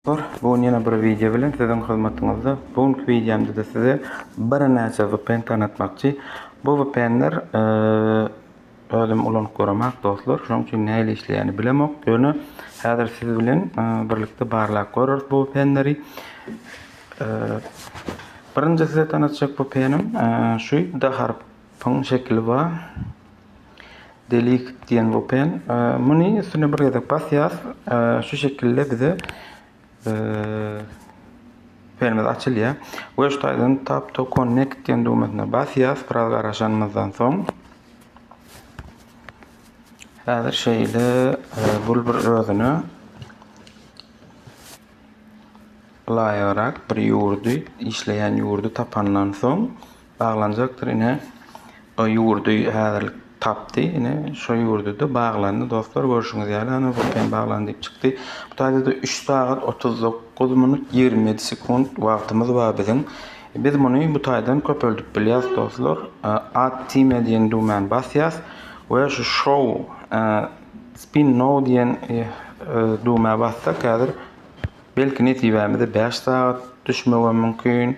Dostlar, bu gün ýene bir wideo bilen siziň hyzmatyňyzda. Bu günki wideomda-da size birnäçe vpn tanatmakçy. Bu vpnler özüm ulanyp göremak, dostlar. Şonuň üçin nähili işleýänini bilemok. Ýöne häzir siz bilen birlikde barlap göreris bu vpnleri. Birinji size tanatjak vpnim şu D harpyň şekili bar. Delete diýen bopen. Muny üstüne bir gezek basýas. Şu şekilde bize perimiz açylýar. We şu taýdan tap to connect diýen düwmesine basýas. Biraz garaşanymyzdan soň Häzir şeýle bul bir özüne laýyrak bir ýurdy, işleýän ýurdy tapandan soň Baglanjakdyr ine o ýurdy häzirlik tapdy ine şo ýurdyda baglandy dostlar görşüňiz ýaly ana bu hem baglandy diýip çykdy bu taýdada üç sagat otuz dokuz minut ýigrimi ýedi sekunt wagtymyz bar biziň biz muny bu taýdan köpeldip bilýäs dostlar add time diýen düwmäni basýas we şu show spin now diýen düwmä bassak häzir belki nesibämize bäş sagat düşmegem mümkin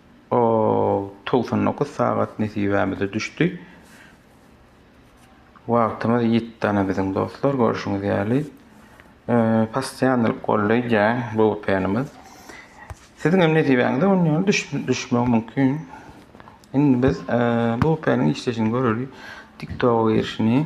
O togsan dokuz sagat nesibämize düşdi. Wagtymyz ýitdi ana biziň dostlar görşüňiz ýaly. Possyýanlyk golleýjäň bu penimiz. Siziň hem nesibäňize on ýaly düşmegi mümkin. Indi biz bu peniň işleşini göreli. TikTok girişini.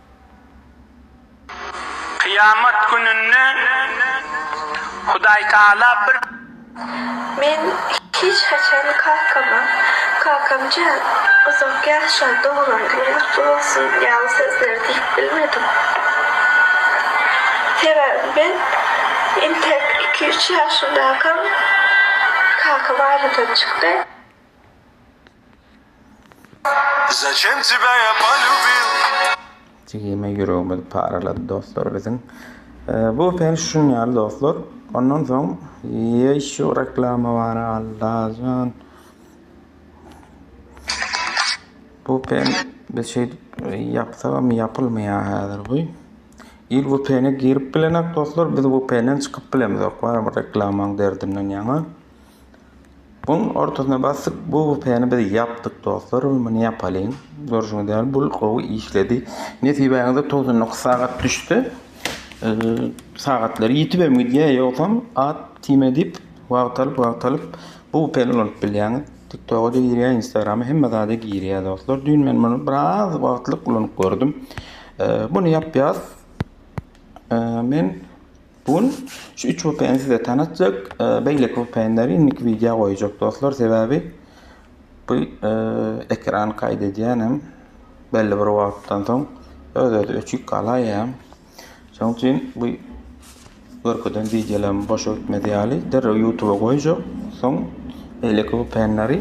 Kyýamat gününde Hudaýtagala bir. Men hiç haçan kakama, Kakam jan, uzak ýaşa, doglan günüň gutly bolsun ýaly sözleri diýip bilmedim. Sebäbi men entek iki-üç ýaşymdakam kaka barada çykdy. Zaçem tebya ya polubila. Jigime ýüregimiz paralady dostlar biziň. Bu päş şun ýaly dostlar. Ondan soň ýeşu reklama bar Allajan. Bu pen biz şeýdip ýapsagam ýapylmaýar häzir bu. Il bu pene girip bilenak dostlar biz bu penden çykyp bilemizok. Bar reklamaň derdinden ýaňa. Buň ortasyna basdyk bu büpäni biz ýapdyk dostlar we muny ýapalyň görşüňiz ýaly bul gowy işledi nesibäňize togsan dokuz sagat düşse sagatlar ýitibem gidýär ýogsam at time diýip wagt alyp wagt alyp bu büpäni ulanyp bilýäňiz tiktoga-da girýär instagrama hemme zada girýär dostlar düýn men muny biraz wagtlyk ulanyp gördüm muny ýapýas men Bu gün şu üç vpn size tanatjak beýleki vpnleri indiki wideo goýjak dostlar sebäbi bu ekran kaýt edýänem belli bir wagtdan soň öz özi öçük galaýýam şoň üçin bu görkezen wideolarym boşa gitmez ýaly derrew ýutuba goýjak soň beýleki vpnleri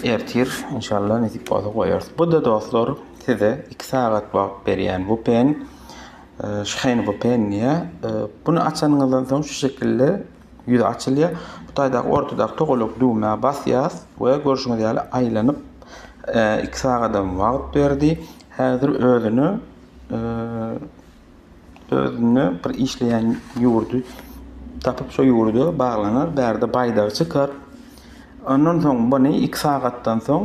ertir inşallah nesip bolsa goýarys bu-da dostlar size iki sagat wagt berýän vpn Şheýngopenýa, Buny açanyňyzdan soň şu şekilde ýüzi açylýar. Bu taýdaky ortadaky togalak düwmä basýas we görşüňiz ýaly aýlanyp iki sagadam wagt berdi. Häzir özüni özüne bir işleýän ýurdy tapyp şo ýurda baglanar. Bärde baýdagy çykar. Ondan soň buny iki sagatdan soň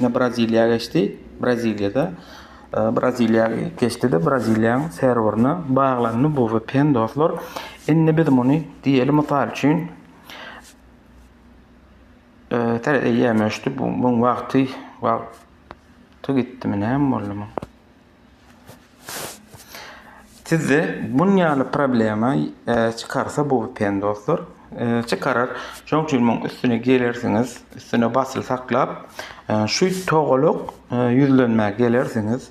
ine Braziliýa geçdi. Braziliýada Braziliýa geçdi-de Braziliýanyň serwerine baglandy bu vpn dostlar. Indi biz muny diýeli mysal üçin Tere eýýäm öçdi bu muň wagty wagty gitdimi näme boldy muň? Sizde bun ýaly problema çykarsa bu VPN dostlar çykarar şoň üçin muň üstüne gelersiňiz üstüne basyl saklap şu togalak ýüzlenmä gelersiňiz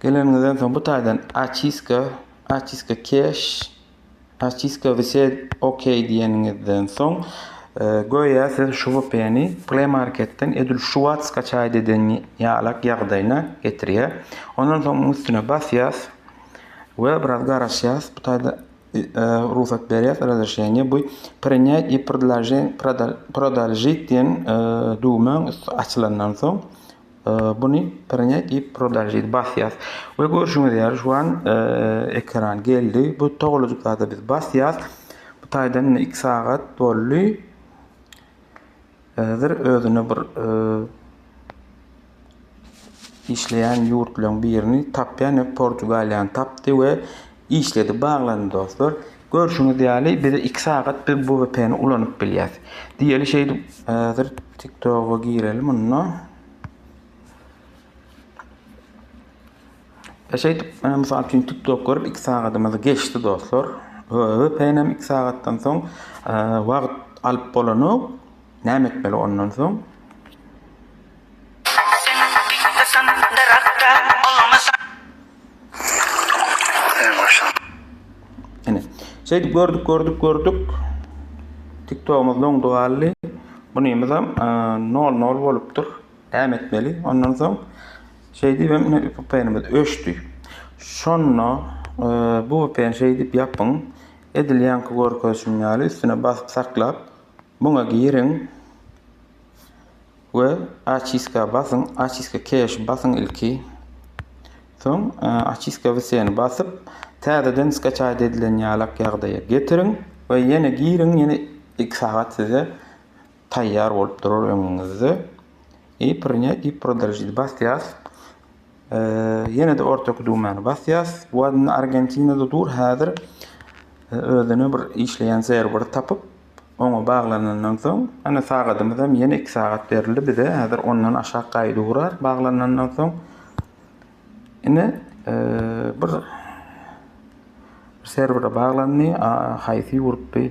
geleniňizden soň bu taýdan açiska açiska keş Paçiska wise OK diýeniňizden soň, göýä siz şu VPN-i Play Market-den edil şu wagt skaçaýt eden ýalak ýagdaýyna getirýär. Ondan soň munuň üstüne basýas we biraz garaşýas. Bu taýda rugsat berýär razreşeniýe. Bu Prinýat i prdlajit diýen düwmäň üsti açylandan soň, Buny Prne i Prodažit basýas we görşüňiz ýaly şu an ekran geldi. Bu togalajyk zada biz basýas. Bu taýdan indi 2 sagat boldy. Häzir özüne bir işleýän ýurtlaryň birini tapýan, Portugaliýany tapdy we Işledi baglandy dostlar. Görşüňiz ýaly biz iki sagat biz bu vpn ulanyp bilýäs. Diýeli şeýdip. Häzir tiktoga gireli munda. E şeýdip e, mysal üçin tiktok görüp iki sagatymyz geçdi dostlar. Vpn hem iki sagatdan soň e, wagt alyp bolanok. Näme etmeli ondan soň? Ene. Şeýdip gördük, gördük, gördük. TikTok'umuz doňdy galdy. Bunymyz hem 0-0 bolupdyr. Däm etmeli. Ondan soň şeýdip hem VPN-imiz öçdi. Şonda e, bu VPN şeýdip ýapyň. Edil ýaňky görkezişim ýaly üstüne basyp saklap muňa giriň. We Oçistka basyň, Oçistka Cache basyň ilki. Soň Oçistka Vseni basyp, täzeden skaçaýt edilen ýalak ýagdaýa getiriň we ýene giriň, ýene iki sagat size taýýar bolup durar öňüňizde. I Prinýat i Prodolžit basýas. Ýene-de ortaky düwmäni basýas. Bu Argentinada dur häzir. Özüne bir işleýän serwer tapyp, oňa baglanandan soň, ýöne sagadymyzam ýene iki sagat berildi bize, häzir ondan aşak gaýdy urar baglanandan soň. Ine, bir serwere baglandy, haýsy ýurtdy?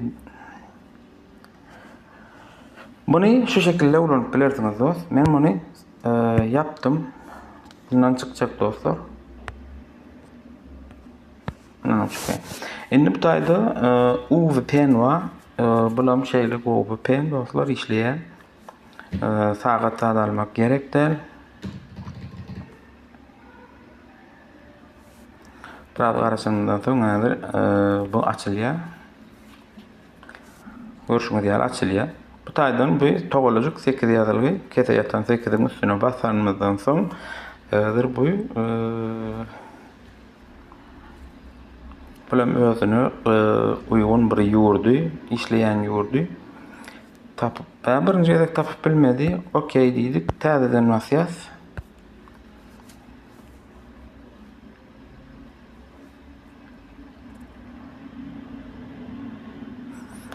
Muny şu şekilde ulanyp bilersiňiz dost. Men muny ýapdym. Bundan çykjak dostlar. Indi bu taýda UV penwa bulam şeýle gowy pen dostlar işleýär. Sagat zat almak gerek däl. Biraz garaşandan soň häzir bu açylýar. Görşüňiz ýaly açylýar. Bu taýdan bu togalajyk 8 ýazylgy, kese ýatan 8-iň üstüne basanymyzdan soň häzir bu Pul hem özüne e, uýgun bir ýurdy, işleýän ýurdy tapyp, tä birinji gezek tapyp bilmedi. Okey diýdik, täzeden basýas.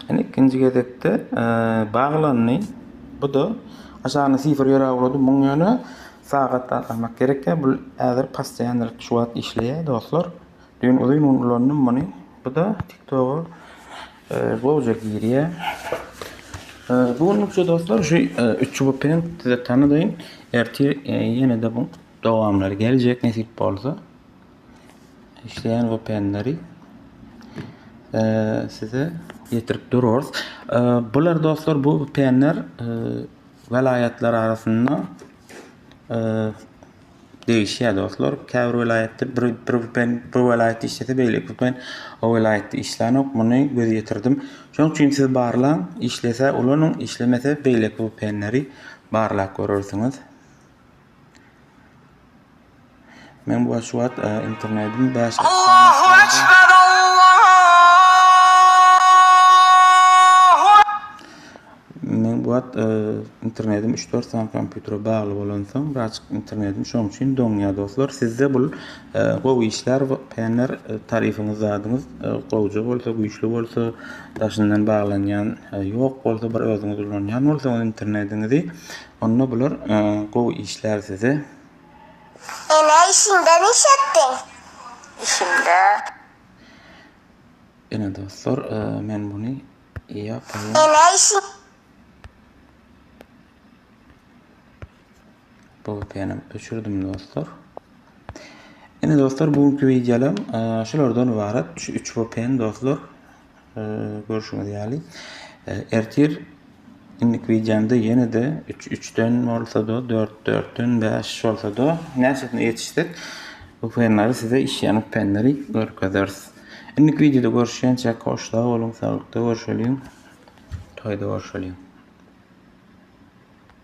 Ene ikinji gezekde e, baglandy. Bu da aşagyna sifr ýöräwledi. Muň ýöne Sagat agtarmak gerek däl bul häzir pastoýandyr şu wagt işleýä dostlar düýn uzyn gün ulandym muny buda tiktoga gowja girýä bu günlükçe dostlar şu üç çubugy bilen size tanadaýyn ertir ýenede bu dowamlary geljek nesip bolsa işleýän vpnleri size ýetirip durarys bular dostlar bu vpnler Welaýatlar arasynda degişýär dostlar. Käbir welaýatda bir bir ben bir welaýatda işlese beýleki ben o welaýatda işlänok. Muny göz ýetirdim. Şonuň üçin siz barlaň, işlese ulanyň, işlemese beýleki bu penleri barlap görersiňiz. Men bu şu wagt e, internetiň bäş Allahu ekber Men bu wagt e, internetim 3-4 sany kompýutere bagly bolansoň, birazjyk internetim şoň üçin doňýar dostlar. Sizde bu e, gowy işler, penler e, taryfyňyz zadyňyz gowja bolsa, güýçli bolsa, daşyndan baglanýan ýok bolsa, bir özüňiz ulanýan bolsaňyz internetiňizi Onda bular gowy işlär size. Ene işinde niş etdiň? Işimde. Ene dostlar men buni yapayin. Ene işin. Bu penim öçürdim dostlar. Ene dostlar bugünkü videolam şulardan ibarat. Şu 3 VPN dostlar. Görşüňiz ýaly, ertir indik wideomda ýene-de üç üçden bolsa-da, dört dörtden, bäş bolsa-da, näçesine ýetişsek, bu penleri size işýanyp penleri görkezeris. Indik wideoda görüşýänçäk, hoş sag boluň, saglykda görşeliň, toýda görşeliň.